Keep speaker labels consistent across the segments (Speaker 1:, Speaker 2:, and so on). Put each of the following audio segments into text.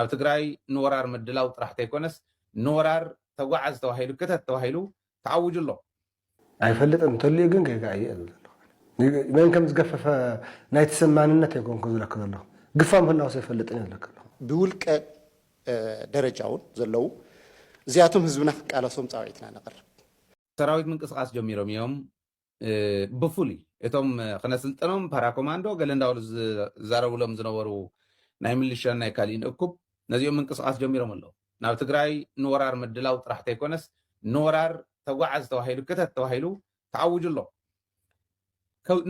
Speaker 1: ኣብ ትግራይ ንወራር ምድላው ጥራሕ ተይኮነስ ንወራር ተጓዓዝ ተባሂሉ ክተት ተባሂሉ ተኣውጁ ኣሎ። ኣይፈልጥን
Speaker 2: እንተልዩ ግን ጌጋ እዩ እየ ዝብል ዘለኹ ኣነ። መን ከም ዝገፈፈ ናይቲ ሰብ ማንነት ኣይኮንኩን ዝብለኪ ዘለኹ። ግፋ ምህላውስ ኣይፈልጥን እየ ዝብለኪ ዘለኹ። ብውልቀ
Speaker 3: ደረጃ ውን ዘለዉ እዚኣቶም ህዝብና ክቃለሶም ፃውዒትና ነቕርብ። ሰራዊት
Speaker 1: ምንቅስቓስ ጀሚሮም እዮም። ብፍሉይ እቶም ክነስልጥኖም ፓራኮማንዶ ገለ እንዳበሉ ዝዛረብሎም ዝነበሩ ናይ ምልሻን ናይ ካሊእን እኩብ ነዚኦም ምንቅስቓስ ጀሚሮም ኣለው። ናብ ትግራይ ንወራር ምድላው ጥራሕ ተይኮነስ ንወራር ተጓዓዝ ተባሂሉ ክተት ተባሂሉ ተኣውጁ ኣሎ።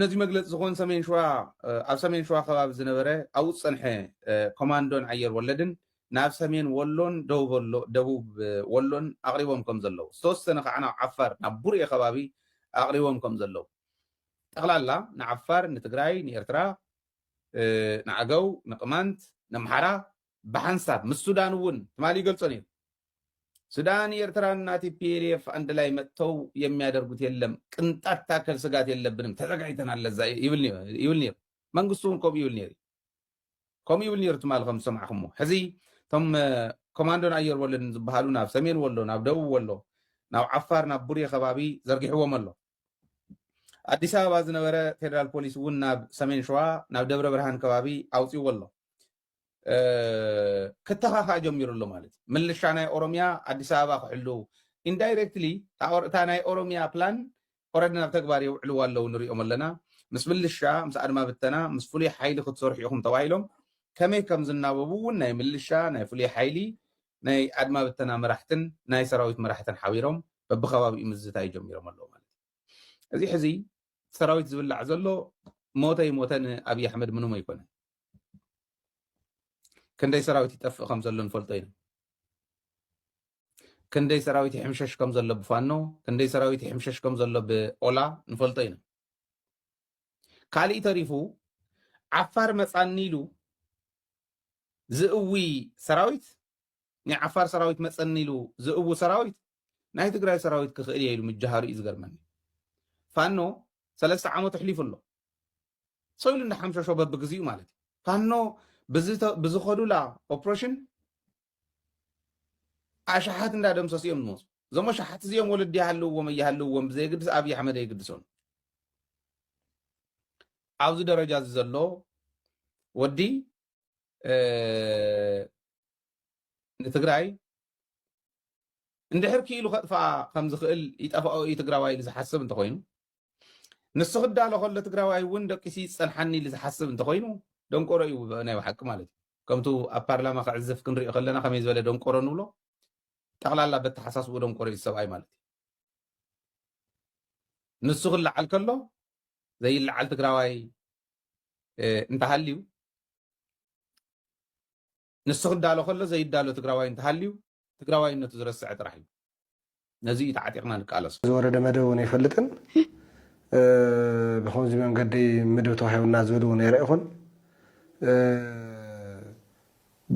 Speaker 1: ነዚ መግለፂ ዝኾን ሰሜን ሸዋ ኣብ ሰሜን ሸዋ ከባቢ ዝነበረ ኣብኡ ዝፀንሐ ኮማንዶን ኣየር ወለድን ናብ ሰሜን ወሎን ደቡብ ወሎን ኣቕሪቦም ከምዘለዉ፣ ዝተወሰነ ከኣ ናብ ዓፋር ናብ ቡሬ ከባቢ ኣቕሪቦም ከምዘለዉ፣ ጠቕላላ ንዓፋር፣ ንትግራይ፣ ንኤርትራ፣ ንኣገው፣ ንቅማንት፣ ነምሓራ ብሓንሳብ ምስ ሱዳን እውን ትማሊ ይገልጾ ነይሩ። ሱዳን፣ ኤርትራን እና ቲፒኤልኤፍ ኣንድ ላይ መጥተው የሚያደርጉት የለም፣ ቅንጣት ታከል ስጋት የለብንም፣ ተዘጋጅተናል ለዛ ይብል ነይሩ። መንግስቱ እውን ከምኡ ይብል ነይሩ እዩ። ከምኡ ይብል ነይሩ ትማሊ ከም ዝሰማዕኹሞ። ሕዚ እቶም ኮማንዶን ኣየር ወለድን ዝበሃሉ ናብ ሰሜን ወሎ፣ ናብ ደቡብ ወሎ፣ ናብ ዓፋር፣ ናብ ቡሬ ከባቢ ዘርጊሕዎም ኣሎ። ኣዲስ ኣበባ ዝነበረ ፌደራል ፖሊስ እውን ናብ ሰሜን ሸዋ፣ ናብ ደብረ ብርሃን ከባቢ ኣውፂእዎ ኣሎ። ክተኻኻእ ጀሚሩ ኣሎ ማለት እዩ። ምልሻ ናይ ኦሮሚያ ኣዲስ ኣበባ ክሕልው ኢንዳይሬክትሊ እታ ናይ ኦሮሚያ ፕላን ኦረዲ ናብ ተግባር የውዕልዋ ኣለው ንሪኦም ኣለና ምስ ምልሻ ምስ ኣድማ ብተና ምስ ፍሉይ ሓይሊ ክትሰርሑ ኢኹም ተባሂሎም ከመይ ከም ዝናበቡ እውን ናይ ምልሻ ናይ ፍሉይ ሓይሊ ናይ ኣድማ ብተና መራሕትን ናይ ሰራዊት መራሕትን ሓቢሮም በብከባቢኡ ምዝታይ ጀሚሮም ኣለው ማለት እዩ እዚ ሕዚ ሰራዊት ዝብላዕ ዘሎ ሞተ ይሞተ ንኣብይ ኣሕመድ ምንም ኣይኮነ ክንደይ ሰራዊት ይጠፍእ ከም ዘሎ ንፈልጦ ኢና ክንደይ ሰራዊት ይሕምሸሽ ከም ዘሎ ብፋኖ ክንደይ ሰራዊት ይሕምሸሽ ከም ዘሎ ብኦላ ንፈልጦ ኢና ካሊእ ተሪፉ ዓፋር መፃኒ ኢሉ ዝእዊ ሰራዊት ናይ ዓፋር ሰራዊት መፀኒ ኢሉ ዝእዊ ሰራዊት ናይ ትግራይ ሰራዊት ክኽእል እየ ኢሉ ምጅሃሩ እዩ ዝገርመኒ ፋኖ ሰለስተ ዓመት ኣሕሊፉ ኣሎ ሰው ኢሉ እንዳሓምሸሾ በብግዚኡ ማለት እዩ ፋኖ ብዝኸዱላ ኦፕሬሽን ኣሽሓት እንዳደምሰሱ እዮም ዝመፁ። እዞም ኣሽሓት እዚኦም ወለዲ ይሃልውዎም ኣይሃልውዎም ብዘየግድስ ኣብዪ ኣሕመድ ኣይግድሶን። ኣብዚ ደረጃ እዚ ዘሎ ወዲ ንትግራይ እንድሕር ክኢሉ ከጥፍኣ ከም ዝኽእል ይጠፍኦ እዩ ትግራዋይ ኢሉ ዝሓስብ እንተኾይኑ ንሱ ክዳሎ ከሎ ትግራዋይ እውን ደቂሱ ይፀንሓኒ ኢሉ ዝሓስብ እንተኮይኑ ደንቆሮ እዩ ናይ ብሓቂ ማለት እዩ ከምቱ ኣብ ፓርላማ ክዕዝፍ ክንሪኦ ከለና ከመይ ዝበለ ደንቆሮ ንብሎ ጠቕላላ በተሓሳስቡ ደንቆሮ እዩ ሰብኣይ ማለት እዩ ንሱ ክለዓል ከሎ ዘይለዓል ትግራዋይ እንተሃልዩ ንሱ ክዳሎ ከሎ ዘይዳሎ ትግራዋይ እንተሃልዩ ትግራዋይነቱ ዝረስዐ ጥራሕ እዩ። ነዚ እዩ ተዓጢቕና ንቃለሶ። ዝወረደ መደብ እውን
Speaker 2: ኣይፈልጥን። ብኸምዚ መንገዲ ምድብ ተዋሂቡና ዝብል እውን ኣይረእኹን።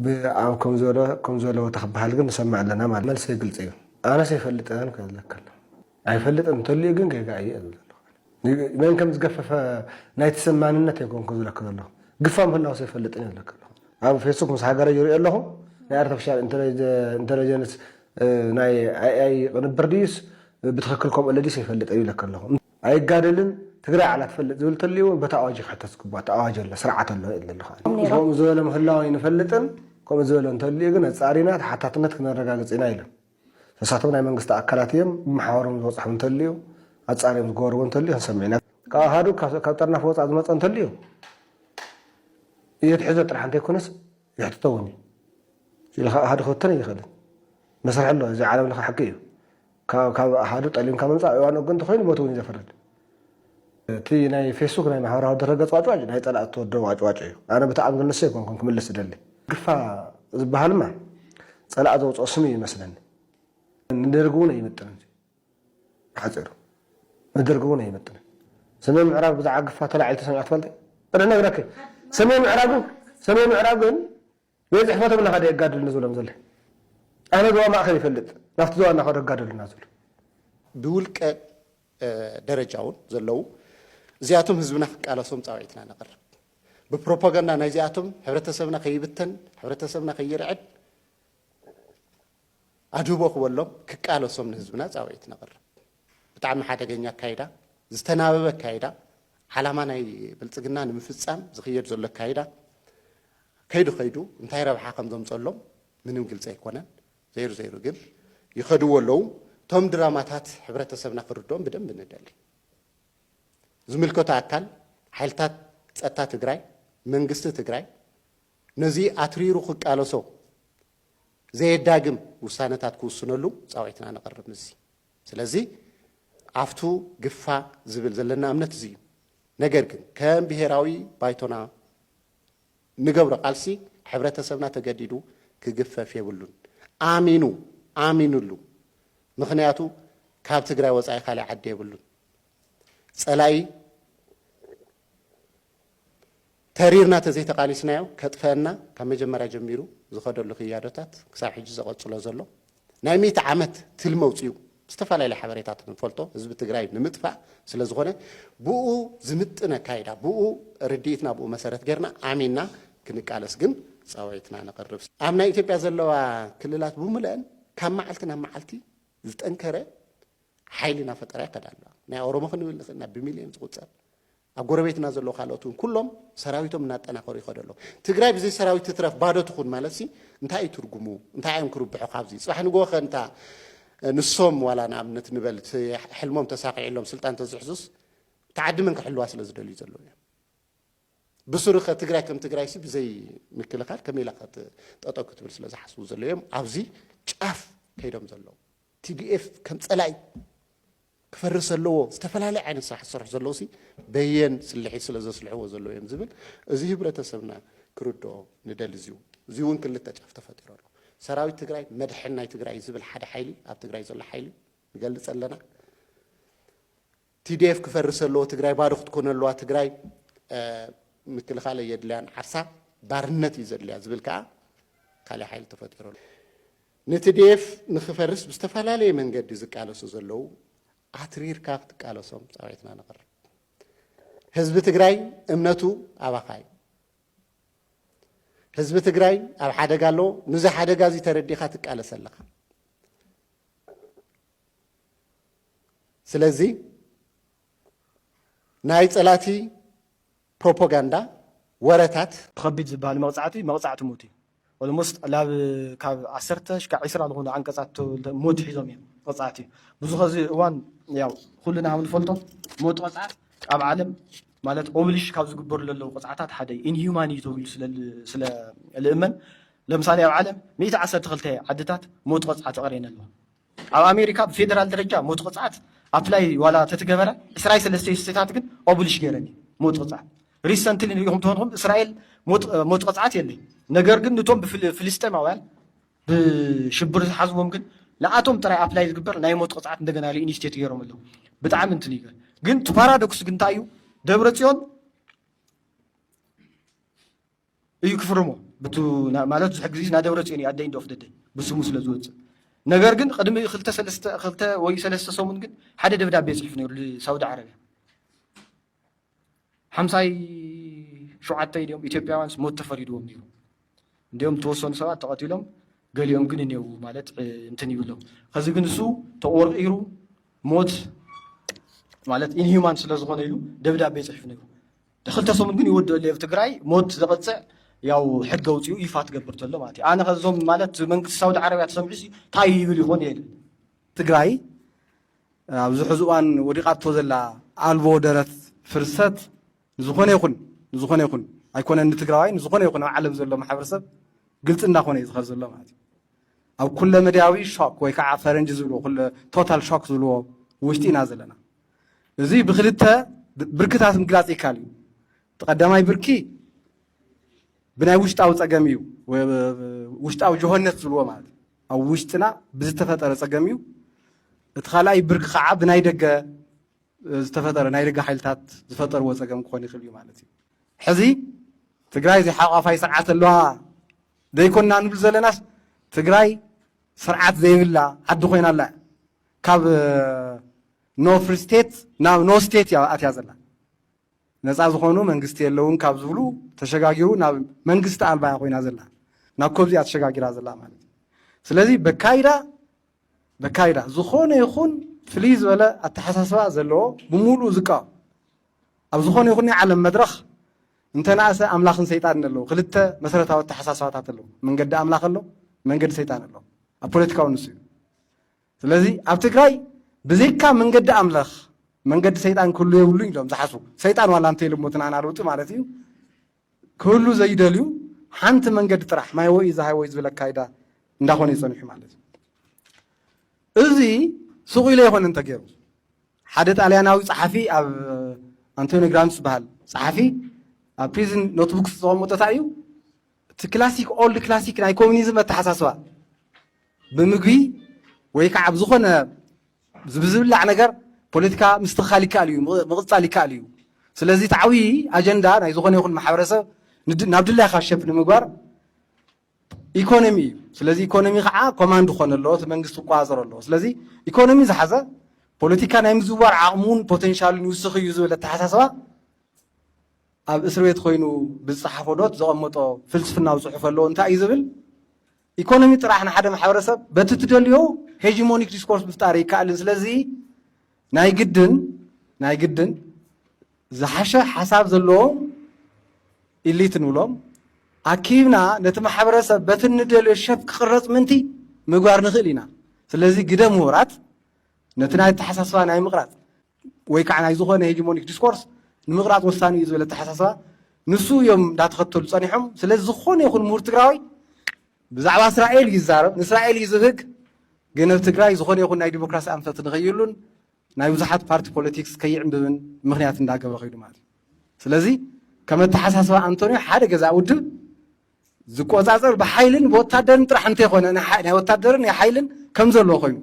Speaker 2: ብኣብ ከም ዝበሎ ከም ዘለዎ ተክበሃል ግን ንሰምዕ ኣለና ማለት መልሰይ ግልፂ እዩ። ኣነስ ኣይፈልጥን ክብለካ ኣለኹ። ኣይፈልጥን እንተልዩ ግን ጌጋ እዩ እየ ዝብል ዘለኹ ኣነ። መን ከም ዝገፈፈ ናይ ትሰም ማንነት ኣይኮንኩን ዝብለኪ ዘለኹ። ግፋ ምህላውስ ኣይፈልጥን እየ ዝብለኪ ዘለኹ። ኣብ ፌስቡክ ምስ ሃገረይ ይርእዮ ኣለኹ። ናይ ኣርተፊሻል ኢንተለጀንስ ናይ ኣይኣይ ቅንብር ድዩስ ብትኽክል ከምኡ ኣሎ ድዩስ ኣይፈልጥን እየ ዝብለኪ ዘለኹ። ኣይጋደልን ትግራይ ባዕላ ትፈልጥ ዝብል እንተልዩ እውን በቲ ኣዋጅ እዩ ክሕተት ዝግብኦ። እቲ ኣዋጅ ኣሎ፣ ስርዓት ኣሎ እየ ዝብል ዘለኹ ኣነ። እቶም ነይሮም። ከምኡ ዝበለ ምህላው ኣይንፈልጥን፣ ከምኡ ዝበለ እንተልዩ ግን ኣፃሪና ተሓታትነት ክነረጋግፅ ኢና ኢሎም። ንሳቶም ናይ መንግስቲ ኣካላት እዮም መሓውሮም ዝበጽሖም እንተልዩ ኣጻርዮም ዝገበርዎ እንተልዩ ክንሰምዕ ኢና ካብ ኣሃዱ ካብ ጠርናፍ ወጻእ ዝመጸ እንተልዩ የትሕዞ ጥራሕ እንተይኮነስ ይሕትቶ እውን እዩ ኢሉ ካብ ኣሃዱ ክብተን ኣይኽእልን መስርሒ ኣሎ እዚ ዓለም ለኸ ሕጊ እዩ ካብ ኣሃዱ ጠሊምካ ምምፃእ እዋን ግን እንተኮይኑ ሞት እውን እዩ ዘፍርድ እቲ ናይ ፌስቡክ ናይ ማሕበራዊ ድረገፅ ዋጭዋጭ ናይ ፀላእቲ ተወደቡ ዋጭዋጭ እዩ ኣነ ብታዕሚ ግን ንሱ ኣይኮንኩን ክምልስ ዝደሊ ግፋ ዝበሃልማ ፀላእ ዘውፅኦ ስም እዩ ይመስለኒ ንደርግ እውን ኣይምጥንን ብሓፂሩ ንደርግ እውን ኣይምጥንን ሰሜን ምዕራብ ብዛዕባ ግፋ ተላዒሉ ተሰሚዖ ትፈልጢ እነ ነግረኪ ሰሜን ምዕራብ ሰሜን ምዕራብ ግን ቤት ጽሕፈቶም እናኸደ የጋድሉኒ ዝብሎም ዘሎ። ኣነ ዞባ ማእከል ይፈልጥ፣ ናብቲ ዞባ እናኸዱ ኣጋደሉና ዝብሉ። ብውልቀ
Speaker 3: ደረጃ እውን ዘለዉ እዚኣቶም ህዝብና ክቃለሶም ጻውዒትና ነቕርብ። ብፕሮፓጋንዳ ናይዚኣቶም ሕብረተሰብና ከይብተን፣ ሕብረተሰብና ከይርዕድ፣ ኣድህቦ ክበሎም ክቃለሶም ንህዝብና ጻውዒት ነቕርብ። ብጣዕሚ ሓደገኛ ኣካይዳ፣ ዝተናበበ ኣካይዳ፣ ዓላማ ናይ ብልጽግና ንምፍጻም ዝኽየድ ዘሎ ኣካይዳ ከይዱ ከይዱ እንታይ ረብሓ ከም ዘምጸሎም ምንም ግልጺ ኣይኮነን። ዘይሩ ዘይሩ ግን ይኸድዎ ኣለዉ። እቶም ድራማታት ሕብረተሰብና ክርድኦም ብደንቢ ንደሊ። ዝምልከቶ ኣካል ሓይልታት ጸጥታ ትግራይ፣ መንግስቲ ትግራይ ነዚ ኣትሪሩ ክቃለሶ ዘየዳግም ውሳነታት ክውስነሉ ጻውዒትና ነቕርብ። ምስዚ ስለዚ ዓፍቱ ግፋ ዝብል ዘለና እምነት እዚ እዩ። ነገር ግን ከም ብሄራዊ ባይቶና ንገብሮ ቃልሲ ሕብረተሰብና ተገዲዱ ክግፈፍ የብሉን። ኣሚኑ ኣሚኑሉ ምኽንያቱ ካብ ትግራይ ወጻኢ ካሊእ ዓዲ የብሉን። ጸላኢ ተሪርና ተዘይተቓሊስናዮ ከጥፈኣና ካብ መጀመርያ ጀሚሩ ዝኸደሉ ክያዶታት ክሳብ ሕጂ ዘቐጽሎ ዘሎ ናይ ሚእቲ ዓመት ትልሚ ኣውጺኡ ብዝተፈላለየ ሓበሬታት ንፈልጦ ህዝቢ ትግራይ ንምጥፋእ ስለዝኾነ ብኡ ዝምጥን ኣካይዳ ብኡ ርድኢትና ብኡ መሰረት ጌርና ኣሚንና ክንቃለስ ግን ጻውዒትና ነቕርብ። ኣብ ናይ ኢትዮጵያ ዘለዋ ክልላት ብሙለኣን ካብ መዓልቲ ናብ መዓልቲ ዝጠንከረ ሓይሊ እናፈጠራ ይኸዳ ኣለዋ። ናይ ኦሮሞ ክንብል ንኽእል ኢና ብሚልዮን ዝቑጸር ኣብ ጎረቤትና ዘለዉ ካልኦት እውን ኩሎም ሰራዊቶም እናጠናኸሩ ይኸዱ ኣለዉ። ትግራይ ብዘይ ሰራዊት ትትረፍ ባዶ ትኹን ማለትሲ እንታይ እዩ ትርጉሙ? እንታይ እዮም ክርብሑ ካብዚ? ፅባሕ ንግሆ ከ እንታ ንሶም ዋላ ንኣብነት ንበል እቲ ሕልሞም ተሳኺዕሎም ስልጣን ተዝሕዙስ እታ ዓዲ መን ክሕልዋ ስለ ዝደልዩ ዘለዉ እዮም? ብስሩ ከ ትግራይ ከም ትግራይሲ ብዘይ ምክልኻል ከመይ ኢላ ጠጠው ክትብል ስለ ዝሓስቡ ዘለዉ እዮም ኣብዚ ጫፍ ከይዶም ዘለዉ። ቲዲኤፍ ከም ፀላኢ ክፈርስ ኣለዎ ዝተፈላለየ ዓይነት ስራሕ ዝሰርሑ ዘለዉ ሲ በየን ስልሒት ስለ ዘስልሕዎ ዘለዉ እዮም ዝብል እዚ ህብረተሰብና ክርድኦ ንደሊ እዚው እዚውን ክልተ ጫፍ ተፈጢሩ ኣሎ ሰራዊት ትግራይ መድሕን ናይ ትግራይ እዩ ዝብል ሓደ ሓይሊ ኣብ ትግራይ ዘሎ ሓይሊ ንገልፅ ኣለና ቲዲኤፍ ክፈርስ ኣለዎ ትግራይ ባዶ ክትኮነ ኣለዋ ትግራይ ምክልኻል የድልያን ዓርሳ ባርነት እዩ ዘድልያ ዝብል ከዓ ካልእ ሓይሊ ተፈጢሩ ኣሎ ንትዴፍ ንክፈርስ ብዝተፈላለየ መንገዲ ዝቃለሱ ዘለዉ ኣትሪርካ ክትቃለሶም ፃውዒትና ነቕርብ። ህዝቢ ትግራይ እምነቱ ኣባኻ እዩ። ህዝቢ ትግራይ ኣብ ሓደጋ ኣሎ። ንዚ ሓደጋ እዚ ተረዲኻ ትቃለስ ኣለኻ። ስለዚ ናይ ፀላእቲ ፕሮፖጋንዳ ወረታት። ብከቢድ ዝብሃል
Speaker 4: መቅጻዕቲ መቅጻዕቲ ሞት እዩ ኦልሞስት ላብ ካብ ዓሰርተ ሽካዕ ዒስራ ልኮኑ ዓንቀጻት ሞት ሒዞም እዮም ቅጻዕት እዩ ብዙ ከዚ እዋን ያው ኩልና ሃም ንፈልጦ ሞት ቅጻዕት ኣብ ዓለም ማለት ኦብሊሽ ካብ ዝግበሩ ለለው ቅጻዕታት ሓደ እዩ ኢንሂዩማን እዩ ተብሉ ስለ ስለ ልእመን ለምሳሌ ኣብ ዓለም ሚእቲ ዓሰርተ ክልተ ዓድታት ሞት ቅጻዕት ኣቅርየን ኣለዋ ኣብ ኣሜሪካ ብፌደራል ደረጃ ሞት ቅፅዓት ኣፕላይ ዋላ ተትገበረ ዕስራይ ሰለስተይ ስተታት ግን ኦብሊሽ ገይረን እዩ ሞት ቅፅዓት ሪሰንትሊ ንሪኹም ተኾንኹም እስራኤል ሞት ቅፅዓት የለ ነገር ግን ንቶም ብፍልስጤማውያን ብሽብር ዝሓዝዎም ግን ንኣቶም ጥራይ ኣፕላይ ዝግበር ናይ ሞት ቅፅዓት እንደገና ሪኢኒስቴት ገይሮም ኣለዉ ብጣዕሚ እንትን እዩ ግን እቲ ፓራዶክስ ግን እንታይ እዩ ደብረ ፅዮን እዩ ክፍርሞ ብቱ ማለት ብዙሕ ግዜ ናይ ደብረፅዮን እዩ ኣደይ እንዶ ክደደይ ብስሙ ስለ ዝወፅእ ነገር ግን ቅድሚ ክልተ ሰለስተ ክልተ ወይ ሰለስተ ሰሙን ግን ሓደ ደብዳቤ ፅሒፉ ነይሩ ሳውዲ ዓረብያ ሓምሳይ ሸውዓተ ኢዮም ኢትዮጵያውያንስ ሞት ተፈሪድዎም ነይሩ እንዲኦም ተወሰኑ ሰባት ተቐቲሎም ገሊኦም ግን እኔው ማለት እንትን ይብሎም ከዚ ግን እሱ ተቆርቂሩ ሞት ማለት ኢንሂማን ስለ ዝኾነ ኢሉ ደብዳቤ ፅሒፉ ነይሩ ክልተ ሰሙን ግን ይወድኦ ኣለዮ ትግራይ ሞት ዘቅጽዕ ያው ሕጊ ኣውጺኡ ይፋ ትገብር ተሎ ማለት እዩ ኣነ ከዞም ማለት መንግስቲ ሳውዲ ዓረብያ ተሰምዑ ታይ ይብል ይኾን የል ትግራይ
Speaker 5: ኣብዚ ሕዚ እዋን ወዲቓቶ ዘላ ኣልቦ ደረት ፍርሰት ንዝኾነ ይኹን ንዝኾነ ይኹን ኣይኮነን ንትግራዋይ ንዝኾነ ይኹን ኣብ ዓለም ዘሎ ማሕበረሰብ ግልፂ እናኾነ እዩ ዝኸድ ዘሎ ማለት እዩ ኣብ ኩለ መድያዊ ሾክ ወይ ከዓ ፈረንጂ ዝብልዎ ኩለ ቶታል ሾክ ዝብልዎ ውሽጢ ኢና ዘለና እዚ ብክልተ ብርክታት ምግላፅ ይካል እዩ። እቲ ቀዳማይ ብርኪ ብናይ ውሽጣዊ ፀገም እዩ፣ ውሽጣዊ ጆሆነት ዝብልዎ ማለት እዩ። ኣብ ውሽጥና ብዝተፈጠረ ፀገም እዩ። እቲ ካልኣይ ብርኪ ከዓ ብናይ ደገ ዝተፈጠረ ናይ ደገ ሓይልታት ዝፈጠርዎ ፀገም ክኾን ይኽእል እዩ ማለት እዩ። ሕዚ ትግራይ ዘይሓቋፋይ ስርዓት ኣለዋ ዘይኮና ንብል ዘለናስ ትግራይ ስርዓት ዘይብላ ዓዲ ኮይና ኣላ ካብ ኖ ፍሪ ስቴት ናብ ኖ ስቴት እያ ኣትያ ዘላ። ነፃ ዝኾኑ መንግስቲ የለውን ካብ ዝብሉ ተሸጋጊሩ ናብ መንግስቲ ኣልባ እያ ኮይና ዘላ። ናብ ኮብዚ እያ ተሸጋጊራ ዘላ ማለት እዩ። ስለዚ በካይዳ በካይዳ ዝኾነ ይኹን ፍልይ ዝበለ ኣተሓሳስባ ዘለዎ ብምሉእ ዝቃወም ኣብ ዝኾነ ይኹን ናይ ዓለም መድረኽ እንተነኣሰ ኣምላኽን ሰይጣንን ኣለዉ ክልተ መሰረታዊ ኣተሓሳስባታት ኣለዉ መንገዲ ኣምላኽ ኣሎ መንገዲ ሰይጣን ኣሎ ኣብ ፖለቲካዊ ንሱ እዩ ስለዚ ኣብ ትግራይ ብዘይካ መንገዲ ኣምላኽ መንገዲ ሰይጣን ክህሉ የብሉ ኢሎም ዝሓስቡ ሰይጣን ዋላ እንተይልሞ እቲ ንኣና ለውጢ ማለት እዩ ክህሉ ዘይደልዩ ሓንቲ መንገዲ ጥራሕ ማይ ወይ ዝሃይ ወይ ዝብል ኣካይዳ እንዳኾነ እዩ ፀኒሑ ማለት እዩ እዚ ሱቕ ኢለ ይኾነ እንተገይሩ ሓደ ጣልያናዊ ፀሓፊ ኣብ ኣንቶኒ ግራንት ዝበሃል ፀሓፊ ኣብ ፕሪዝን ኖትቡክስ ዘቐመጦ እንታይ እዩ እቲ ክላሲክ ኦልድ ክላሲክ ናይ ኮሚኒዝም ኣተሓሳስባ ብምግቢ ወይ ከዓ ብዝኾነ ብዝብላዕ ነገር ፖለቲካ ምስትኽኻል ይከኣል እዩ፣ ምቕፃል ይከኣል እዩ። ስለዚ እቲ ዓብዪ ኣጀንዳ ናይ ዝኾነ ይኹን ማሕበረሰብ ናብ ድላይካ ሸፕ ንምግባር ኢኮኖሚ እዩ። ስለዚ ኢኮኖሚ ከዓ ኮማንድ ክኾነ ኣለዎ፣ እቲ መንግስቲ ክቆፃፀሮ ኣለዎ። ስለዚ ኢኮኖሚ ዝሓዘ ፖለቲካ ናይ ምዝዋር ዓቕሙን ፖቴንሻሉን ይውስኽ እዩ ዝብል ኣተሓሳስባ ኣብ እስርቤት ኮይኑ ብዝጸሓፎ ኖት ዘቐመጦ ፍልስፍናዊ ጽሑፍ ኣሎ እንታይ እዩ ዝብል ኢኮኖሚ ጥራሕ ንሓደ ማሕበረሰብ በቲ ትደልዮ ሄጂሞኒክ ዲስኮርስ ምፍጣር ይከኣልን ስለዚ ናይ ግድን ናይ ግድን ዝሓሸ ሓሳብ ዘለዎም ኢሊት ንብሎም ኣኪብና ነቲ ማሕበረሰብ በቲ ንደልዮ ሸፍ ክቕረጽ ምንቲ ምግባር ንኽእል ኢና ስለዚ ግደ ምሁራት ነቲ ናይ ኣተሓሳስባ ናይ ምቕራጽ ወይ ከዓ ናይ ዝኾነ ሄጂሞኒክ ዲስኮርስ ንምቕራፅ ወሳኒ እዩ ዝብል ኣተሓሳስባ ንሱ እዮም እንዳተኸተሉ ፀኒሖም። ስለዚ ዝኾነ ይኹን ምሁር ትግራዋይ ብዛዕባ እስራኤል እዩ ዝዛረብ፣ ንእስራኤል እዩ ዝብህግ። ግን ኣብ ትግራይ ዝኾነ ይኹን ናይ ዲሞክራሲ ኣንፈት ንኸይህሉን ናይ ብዙሓት ፓርቲ ፖለቲክስ ከይዕምብብን ምክንያት እንዳገብረ ከይዱ ማለት እዩ። ስለዚ ከም ኣተሓሳስባ ኣንቶንዮ ሓደ ገዛ ውድብ ዝቆጻጸር ብሓይልን ብወታደርን ጥራሕ እንተይኮነ ናይ ወታደርን ናይ ሓይልን ከም ዘለዎ ኮይኑ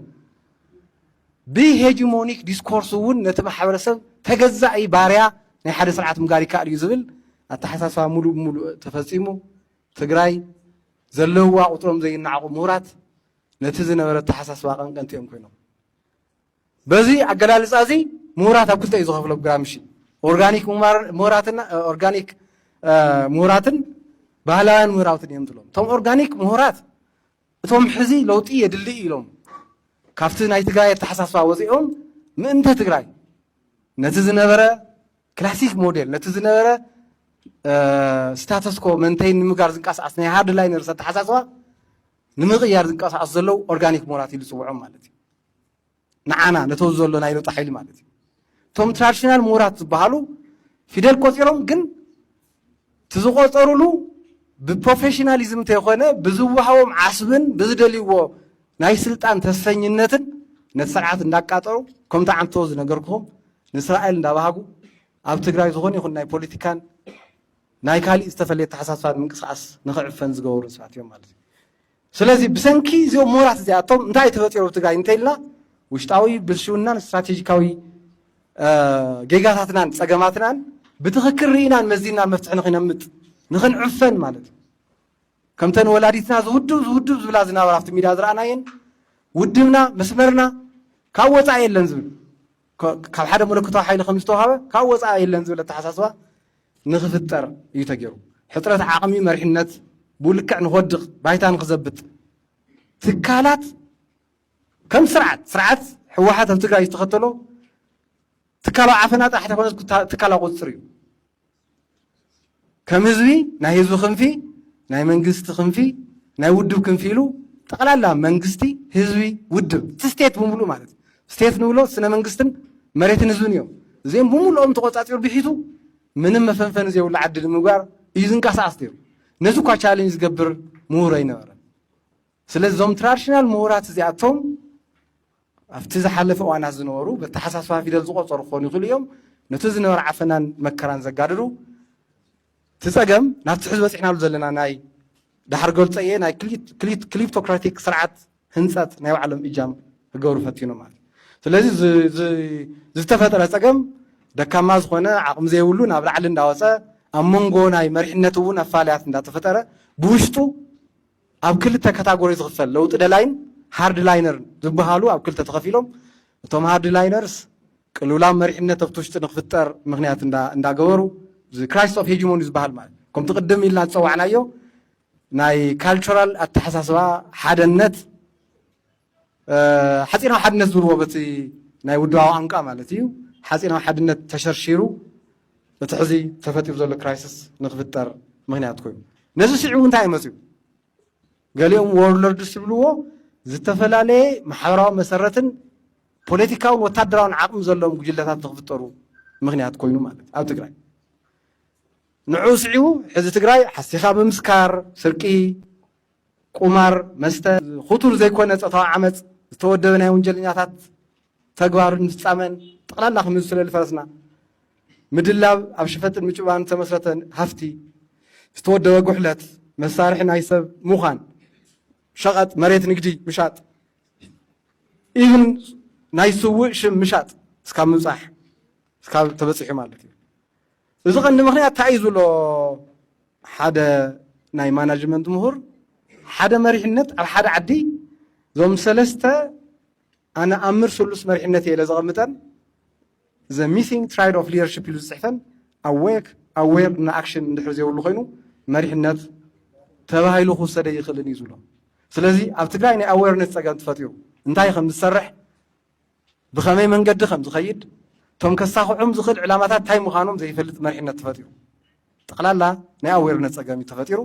Speaker 5: ብሄጂሞኒክ ዲስኮርስ እውን ነቲ ማሕበረሰብ ተገዛኢ ባርያ ናይ ሓደ ስርዓት ምጋር ይከኣል እዩ ዝብል ኣተሓሳስባ ሙሉእ ብሙሉእ ተፈፂሙ ትግራይ ዘለዋ ቁጥሮም ዘይናዕቑ ምሁራት ነቲ ዝነበረ ኣተሓሳስባ ቀንቀንቲ እዮም ኮይኖም በዚ ኣገላልፃ እዚ ምሁራት ኣብ ክልተ እዩ ዝኸፍሎም ግራምሺ። ኦርጋኒክ ምሁራትና ኦርጋኒክ ምሁራትን ባህላውያን ምሁራትን እዮም ዝብሎም። እቶም ኦርጋኒክ ምሁራት እቶም ሕዚ ለውጢ የድሊ እዩ ኢሎም ካብቲ ናይ ትግራይ ኣተሓሳስባ ወፂኦም ምእንተ ትግራይ ነቲ ዝነበረ ክላሲክ ሞዴል ነቲ ዝነበረ ስታተስኮ መንተይ ንምጋር ዝንቀሳቀስ ናይ ሃርድ ላይነርስ ኣተሓሳስባ ንምቕያር ዝንቀሳቀሱ ዘለው ኦርጋኒክ ምሁራት ኢሉ ዝፅውዖም ማለት እዩ። ንዓና ነቶ ዘሎ ናይ ለውጢ ሓይሊ ማለት እዩ እቶም ትራዲሽናል ምሁራት ዝበሃሉ ፊደል ቆፂሮም ግን እቲ ዝቆፀሩሉ ብፕሮፌሽናሊዝም እንተይኮነ ብዝወሃቦም ዓስብን ብዝደልይዎ ናይ ስልጣን ተስፈኝነትን ነቲ ስርዓት እንዳቃጠሩ ከምቲ ዓንቶ ዝነገርኩኹም ንእስራኤል እንዳባሃጉ ኣብ ትግራይ ዝኾነ ይኹን ናይ ፖለቲካን ናይ ካሊእ ዝተፈለየ ተሓሳስባን ምንቅስቃስ ንክዕፈን ዝገበሩ ሰባት እዮም ማለት እዩ ስለዚ ብሰንኪ እዚኦም ምሁራት እዚኣቶም እንታይ ተፈጢሩ ኣብ ትግራይ እንተኢልና ውሽጣዊ ብልሽውናን ስትራቴጂካዊ ጌጋታትናን ጸገማትናን ብትኽክል ርኢናን መዚናን መፍትሒ ንክነምጥ ንክንዕፈን ማለት እዩ ከምተን ወላዲትና ዝውድብ ዝውድብ ዝብላ ዝነበራ ኣብቲ ሚድያ ዝረኣናየን ውድብና መስመርና ካብ ወፃኢ የለን ዝብል ካብ ሓደ መለኮታዊ ሓይሊ ከም ዝተዋህበ ካብ ወፃኢ የለን ዝብል ኣተሓሳስባ ንክፍጠር እዩ ተገይሩ። ሕፅረት ዓቕሚ መሪሕነት ብኡ ልክዕ ንክወድቕ ባይታ ንክዘብጥ ትካላት ከም ስርዓት ስርዓት ህወሓት ኣብ ትግራይ ዝተኸተሎ ትካላዊ ዓፈና ጥራሕ ተይኮነስ ትካላዊ ቁፅፅር እዩ። ከም ህዝቢ ናይ ህዝቢ ክንፊ ናይ መንግስቲ ክንፊ ናይ ውድብ ክንፊ ኢሉ ጠቕላላ መንግስቲ ህዝቢ ውድብ እቲ ስቴት ብምሉ ማለት እዩ ስቴት ንብሎ ስነ መንግስትን መሬትን ህዝብን እዮም እዚኦም ብምሉኦም ተቆፃፂሩ ብሒቱ ምንም መፈንፈኒ ዘይብሉ ዓዲ ንምግባር እዩ ዝንቀሳቀስ ነይሩ ነዚ እኳ ቻሌንጅ ዝገብር ምሁር ኣይነበረን ስለዚ እዞም ትራዲሽናል ምሁራት እዚኣቶም ኣብቲ ዝሓለፈ እዋናት ዝነበሩ በተሓሳስባ ፊደል ዝቖጸሩ ክኾኑ ይኽእሉ እዮም። ነቲ ዝነበረ ዓፈናን መከራን ዘጋድዱ፣ እቲ ጸገም ናብቲ ሕዚ በጺሕናሉ ዘለና ናይ ዳሕር ገልጸየ ናይ ክሊፕቶክራቲክ ስርዓት ህንጸት ናይ ባዕሎም እጃም ክገብሩ ፈቲኖም ማለት እዩ። ስለዚ ዝተፈጥረ ጸገም ደካማ ዝኾነ ዓቕሚ ዘይብሉ ናብ ላዕሊ እንዳወጸ ኣብ መንጎ ናይ መሪሕነት እውን ኣፋልያት እንዳተፈጠረ ብውሽጡ ኣብ ክልተ ካታጎሪ ዝኽፈል ለውጢ ደላይን ሃርድ ላይነርን ዝብሃሉ ኣብ ክልተ ተኸፊሎም እቶም ሃርድ ላይነርስ ቅልውላው መሪሕነት ኣብቲ ውሽጢ ንክፍጠር ምክንያት እንዳገበሩ ክራይስስ ኦፍ ሄጂሞኒ ዝበሃል ማለት ከምቲ ቅድም ኢልና ዝፀዋዕናዮ ናይ ካልቸራል ኣተሓሳስባ ሓደነት ሓጺናዊ ሓድነት ዝብልዎ በቲ ናይ ውድባዊ ቋንቋ ማለት እዩ ሓጺናዊ ሓድነት ተሸርሺሩ እቲ ሕዚ ተፈጢሩ ዘሎ ክራይስስ ንክፍጠር ምክንያት ኮይኑ ነዚ ስዒቡ እንታይ መፅኡ ገሊኦም ወርለርድስ ዝብልዎ ዝተፈላለየ ማሕበራዊ መሰረትን ፖለቲካውን ወታደራውን ዓቕሚ ዘለዎም ጉጅለታት ንክፍጠሩ ምክንያት ኮይኑ ማለት ኣብ ትግራይ ንዕኡ ስዒቡ ሕዚ ትግራይ ሓሲኻ ምምስካር ስርቂ ቁማር፣ መስተ፣ ኹቱር ዘይኮነ ጾታዊ ዓመጽ፣ ዝተወደበ ናይ ወንጀለኛታት ተግባርን ፍጻመን ጠቕላላ ክምዚ ስለሊ ፈረስና ምድላብ ኣብ ሽፈጥን ምጭባን ዝተመስረተ ሃፍቲ፣ ዝተወደበ ጉሕለት፣ መሳርሒ ናይ ሰብ ምዃን፣ ሸቐጥ፣ መሬት ንግዲ ምሻጥ፣ ኢቭን ናይ ስውእ ሽም ምሻጥ እስካብ ምብጻሕ እስካብ ተበጺሑ ማለት እዩ። እዚ ቀንዲ ምኽንያት ታይ እዩ ዝብሎ ሓደ ናይ ማናጅመንት ምሁር ሓደ መሪሕነት ኣብ ሓደ ዓዲ ዞም ሰለስተ ኣነ ኣምር ስሉስ መሪሕነት እየ ኢለ ዘቐምጠን ዘ ሚሲንግ ትራይድ ኦፍ ሊደርሽፕ ኢሉ ዝፅሕፈን ኣዌክ ኣዌር እና ኣክሽን እንድሕር ዘይብሉ ኮይኑ መሪሕነት ተባሂሉ ክውሰደ ይኽእልን እዩ ዝብሎ። ስለዚ ኣብ ትግራይ ናይ ኣዌርነስ ፀገም ተፈጢሩ እንታይ ከም ዝሰርሕ ብኸመይ መንገዲ ከም ዝኸይድ፣ እቶም ከሳኽዑም ዝኽእል ዕላማታት እንታይ ምዃኖም ዘይፈልጥ መሪሕነት ተፈጢሩ። ጠቕላላ ናይ ኣዌርነት ጸገም እዩ ተፈጢሩ።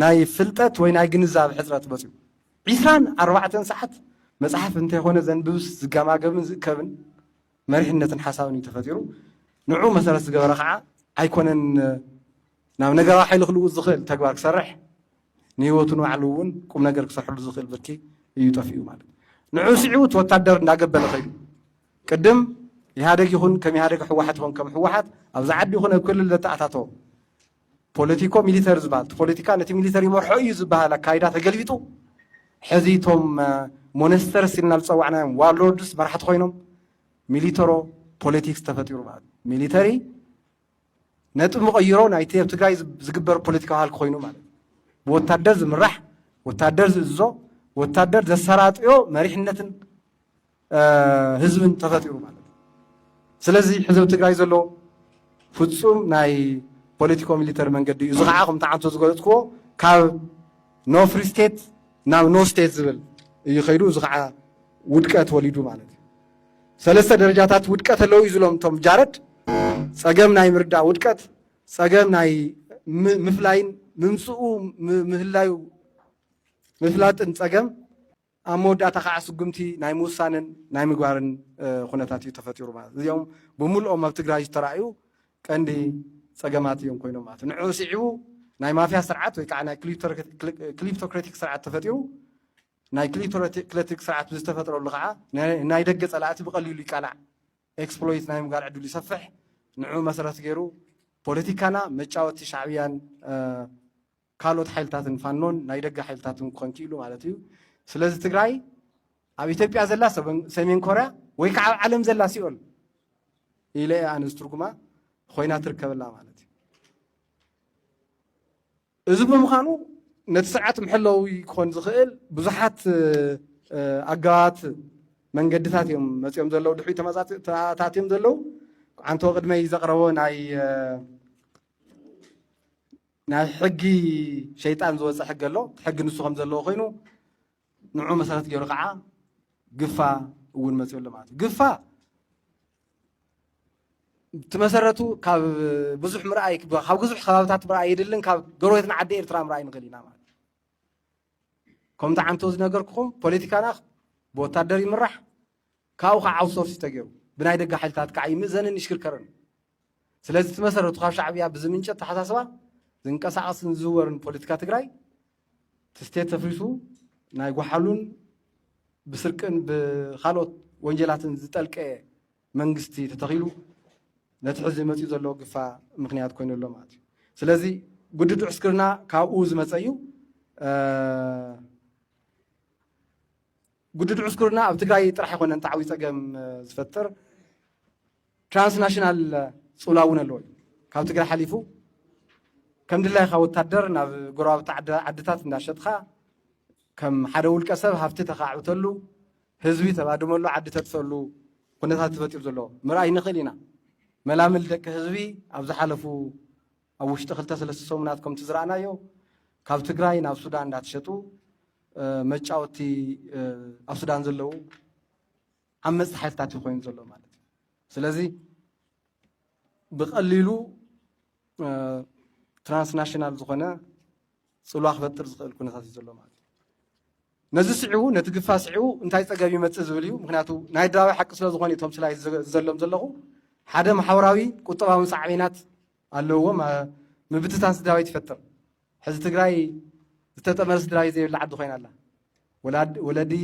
Speaker 5: ናይ ፍልጠት ወይ ናይ ግንዛብ ሕጽረት መጽኡ። ዒስራን ኣርባዕተን ሰዓት መጽሓፍ እንተይኮነ ዘንብብስ ዝገማገብን ዝእከብን መሪሕነትን ሓሳብን እዩ ተፈጢሩ። ንዑ መሰረት ዝገበረ ከዓ ኣይኮነን ናብ ነገራዊ ሓይሊ ክልውጥ ዝኽእል ተግባር ክሰርሕ ንህይወቱ ንባዕሉ እውን ቁም ነገር ክሰርሐሉ ዝኽእል ብርኪ እዩ ጠፊኡ ማለት ንዑ ስዒቡ እቲ ወታደር እንዳገበለ ከይዱ ቅድም ኢህኣደግ ይኹን ከም ኢህኣደግ ሕወሓት ይኹን ከም ሕወሓት ኣብዚ ዓዲ ይኹን ኣብ ክልል ዘተኣታቶ ፖለቲኮ ሚሊተሪ ዝበሃል እቲ ፖለቲካ ነቲ ሚሊተሪ ይመርሖ እዩ ዝበሃል ኣካይዳ ተገልቢጡ ሕዚ እቶም ሞነስተርስ ኢልና ዝፀዋዕናዮም ዋርሎርድስ መራሕቲ ኮይኖም ሚሊተሮ ፖለቲክስ ተፈጢሩ ማለት ሚሊተሪ ነጥቢ መቐይሮ ናይቲ ኣብ ትግራይ ዝግበር ፖለቲካዊ ሃልኪ ኮይኑ ማለት እዩ። ብወታደር ዝምራሕ ወታደር ዝእዝዞ ወታደር ዘሰራጥዮ መሪሕነትን ህዝብን ተፈጢሩ ማለት እዩ። ስለዚ ሕዚ ኣብ ትግራይ ዘሎ ፍፁም ናይ ፖለቲኮ ሚሊተሪ መንገዲ እዩ። እዚ ከዓ ከምቲ ዓንቶ ዝገለፅክዎ ካብ ኖ ፍሪ ስቴት ናብ ኖ ስቴት ዝብል እዩ ከይዱ። እዚ ከዓ ውድቀት ወሊዱ ማለት እዩ። ሰለስተ ደረጃታት ውድቀት ኣለዉ እዩ ዝሎም እቶም ጃረድ ፀገም ናይ ምርዳእ ውድቀት፣ ፀገም ናይ ምፍላይን ምምፅኡ ምህላዩ ምፍላጥን ፀገም ኣብ መወዳእታ ከዓ ስጉምቲ ናይ ምውሳንን ናይ ምግባርን ኩነታት እዩ ተፈጢሩ ማለት እዚኦም ብምልኦም ኣብ ትግራይ ዝተረኣዩ ቀንዲ ፀገማት እዮም ኮይኖም ማለት ንዕኡ ስዒቡ ናይ ማፍያ ስርዓት ወይ ከዓ ናይ ክሊፕቶክራቲክ ስርዓት ተፈጢሩ ናይ ክሊቶክለቲክ ስርዓት ብዝተፈጥረሉ ከዓ ንናይ ደገ ፀላእቲ ብቐሊሉ ይቃላዕ፣ ኤክስፕሎይት፣ ናይ ምግባር ዕድሉ ይሰፍሕ። ንዕኡ መሰረት ገይሩ ፖለቲካና መጫወቲ ሻዕብያን ካልኦት ሓይልታትን ፋኖን ናይ ደገ ሓይልታትን ክኾን ክኢሉ ማለት እዩ። ስለዚ ትግራይ ኣብ ኢትዮጵያ ዘላ ሰሜን ኮርያ ወይ ከዓ ኣብ ዓለም ዘላ ሲኦል ኢለ እየ ኣነ ዝትርጉማ ኮይና ትርከበላ ማለት እዩ። እዚ ብምዃኑ ነቲ ስርዓት መሐለዊ ክኾን ዝኽእል ብዙሓት ኣገባባት መንገድታት እዮም መፂኦም ዘለዉ ድሕሪ ተኣታትዮም ዘለዉ ዓንተወ ቅድመይ ዘቕረቦ ናይ ናይ ሕጊ ሸይጣን ዝወፀ ሕጊ ኣሎ ሕጊ ንሱ ከም ዘለዎ ኮይኑ ንዑ መሰረት ገይሩ ከዓ ግፋ እውን መፅኡ ኣሎ ማለት እዩ ግፋ እቲ መሰረቱ ካብ ብዙሕ ምርኣይ ካብ ብዙሕ ከባብታት ምርኣይ የድልን ካብ ጎረቤትና ዓዲ ኤርትራ ምርኣይ ንኽእል ኢና ማለት እዩ ከምቲ ዓንቶ ዝነገርኩኹም ፖለቲካና ብወታደር ይምራሕ ካብኡ ካዓ ኣውትሶርስ እዩ ተገይሩ ብናይ ደገ ሓይልታት ካዓ ይምእዘንን ይሽክርከርን እዩ። ስለዚ እቲ መሰረቱ ካብ ሻዕብያ ብዝምንጨ ኣተሓሳስባ ዝንቀሳቀስን ዝዝወርን ፖለቲካ ትግራይ እቲ ስቴት ተፍሪሱ ናይ ጓሓሉን ብስርቅን ብካልኦት ወንጀላትን ዝጠልቀ መንግስቲ ተተኺሉ ነቲ ሕዚ መፂኡ ዘሎ ግፋ ምክንያት ኮይኑ ኣሎ ማለት እዩ። ስለዚ ግዱድ ዕስክርና ካብኡ ዝመፀ እዩ። ግዱድ ዕስክርና ኣብ ትግራይ ጥራሕ ኣይኮነን ዓብይ ፀገም ዝፈጥር ትራንስናሽናል ፅውላ እውን ኣለዎ እዩ ካብ ትግራይ ሓሊፉ ከም ድላይካ ወታደር ናብ ጎረባብቲ ዓድታት እንዳሸጥካ ከም ሓደ ውልቀ ሰብ ሃፍቲ ተኻዕብተሉ ህዝቢ ተባድመሉ ዓዲ ተጥፈሉ ኩነታት ተፈጢሩ ዘሎ ምርኣይ ንኽእል ኢና። መላምል ደቂ ህዝቢ ኣብ ዝሓለፉ ኣብ ውሽጢ ክልተ ሰለስተ ሰሙናት ከምቲ ዝረኣናዮ ካብ ትግራይ ናብ ሱዳን እንዳተሸጡ መጫወቲ ኣብ ሱዳን ዘለዉ ዓመፅቲ ሓይልታት እዩ ኮይኑ ዘሎ ማለት እዩ ስለዚ ብቀሊሉ ትራንስናሽናል ዝኾነ ጽልዋ ክፈጥር ዝኽእል ኩነታት እዩ ዘሎ ማለት እዩ ነዚ ስዒቡ ነቲ ግፋ ስዒቡ እንታይ ፀገም ይመፅእ ዝብል እዩ ምክንያቱ ናይ ድራዊ ሓቂ ስለ ዝኾነ እቶም ስላይ ዘሎም ዘለኹ ሓደ ማሕበራዊ ቁጠባዊ ሳዕቤናት ኣለዎ ምብትታን ስድራቤት ይፈጥር ሕዚ ትግራይ ዝተጠመረ ስድራቤት ዘይብላ ዓዲ ኮይና ኣላ ወለዲ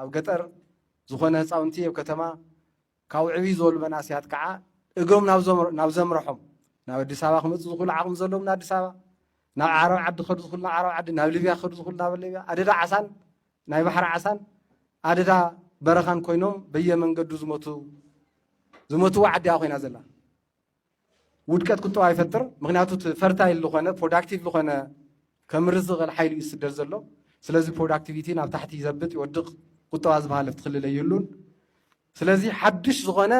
Speaker 5: ኣብ ገጠር ዝኾነ ህፃውንቲ ኣብ ከተማ ካብኡ ዕብይ ዝበሉ መናእሰያት ከዓ እግሮም ናብ ዘምረሖም ናብ ኣዲስ ኣበባ ክመፁ ዝኽእሉ ዓቕሚ ዘለዎም ንኣዲስ ኣበባ ናብ ዓረብ ዓዲ ክኸዱ ዝኽእሉ ናብ ዓረብ ዓዲ ናብ ሊብያ ክኸዱ ዝኽእሉ ናብ ሊብያ ኣደዳ ዓሳን ናይ ባሕሪ ዓሳን ኣደዳ በረኻን ኮይኖም በየመንገዱ ዝሞቱ ዝሞትዋ ዓዲያ ኮይና ዘላ ውድቀት ቁጠባ ይፈጥር። ምክንያቱ እቲ ፈርታይል ዝኾነ ፕሮዳክቲቭ ዝኾነ ከምርት ዝኽእል ሓይሊ እዩ ዝስደድ ዘሎ። ስለዚ ፕሮዳክቲቪቲ ናብ ታሕቲ ይዘብጥ ይወድቕ፣ ቁጠባ ዝበሃል ኣብቲ ክልል ኣይህሉን። ስለዚ ሓድሽ ዝኾነ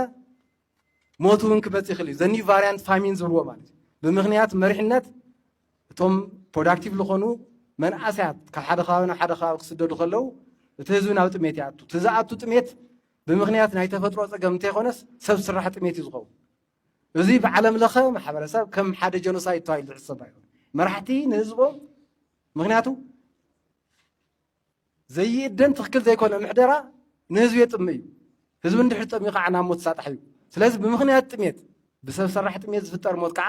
Speaker 5: ሞት እውን ክመፅ ይኽእል እዩ። ዘኒው ቫሪያንት ፋሚን ዝብልዎ ማለት እዩ። ብምክንያት መሪሕነት እቶም ፕሮዳክቲቭ ዝኾኑ መንእሰያት ካብ ሓደ ከባቢ ናብ ሓደ ከባቢ ክስደዱ ከለው እቲ ህዝቢ ናብ ጥሜት ይኣቱ። እቲ ዝኣቱ ጥሜት ብምኽንያት ናይ ተፈጥሮ ፀገም እንተይኮነስ ሰብ ስራሕ ጥሜት እዩ ዝኸውን። እዚ ብዓለም ለኸ ማሕበረሰብ ከም ሓደ ጀኖሳይድ ተባሂሉ ዝሕሰብ ኣይኮነ መራሕቲ ንህዝቦም ምክንያቱ ዘይእደን ትክክል ዘይኮነ ምሕደራ ንህዝቢ የጥሚ እዩ ህዝቢ እንድሕር ጠሚዩ ከዓ ናብ ሞት ሳጣሕ እዩ ስለዚ ብምክንያት ጥሜት ብሰብ ሰራሕ ጥሜት ዝፍጠር ሞት ከዓ